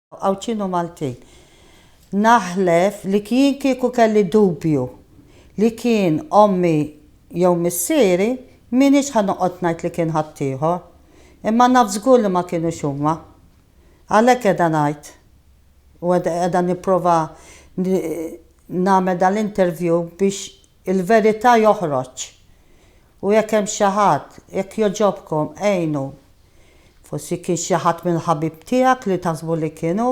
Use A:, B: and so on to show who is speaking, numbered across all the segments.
A: Għawdxin u Maltin. Naħlef li jien kieku kelli dubju li kien ommi jew missieri, m'iniex ħa noqgħod ngħid li kien ħaddieħor. Imma naf żgur li ma kinux huma. Għalhekk qiegħda ngħid u qiegħda nipprova nagħmel dal-interview biex Il-verità joħroġ. U jekk hemm xi ħadd, jekk jogħġobkom għinu. Forsi kien xi ħadd mill-ħabib tiegħek li taħsbu li kien hu.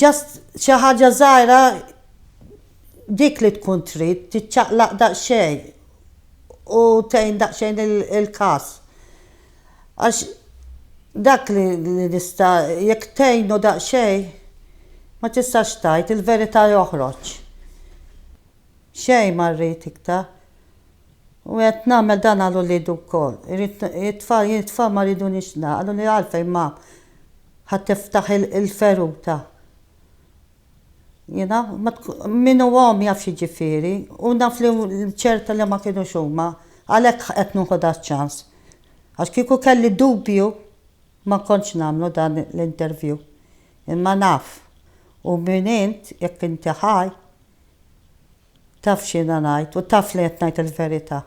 A: Just xi ħaġa żgħira dik li tkun trid tiċċaqlaq daqsxejn u tgħin daqsxejn il-każ. Għax dak li nista' jekk tgħinu daqsxejn ma tistax tgħid, il-verità joħroġ. Xejn ma rrid iktar. U qed nagħmel dan għal uliedi wkoll. Irrid it-tfal jien it-tfal ma rridunix nagħqlu li għalfejn mamm ħa tiftaħ il-feruta. Jiena, min hu omm jaf x'jiġifieri, u naf li ċerta li ma kinux huma, għalhekk qed nieħu dan ċ-ċans. Għax kieku kelli dubju ma kontx nagħmlu dan l-interview. Imma naf, u min int, jekk inti ħaj, taf x'jiena ngħid u taf li qed ngħid il-verità.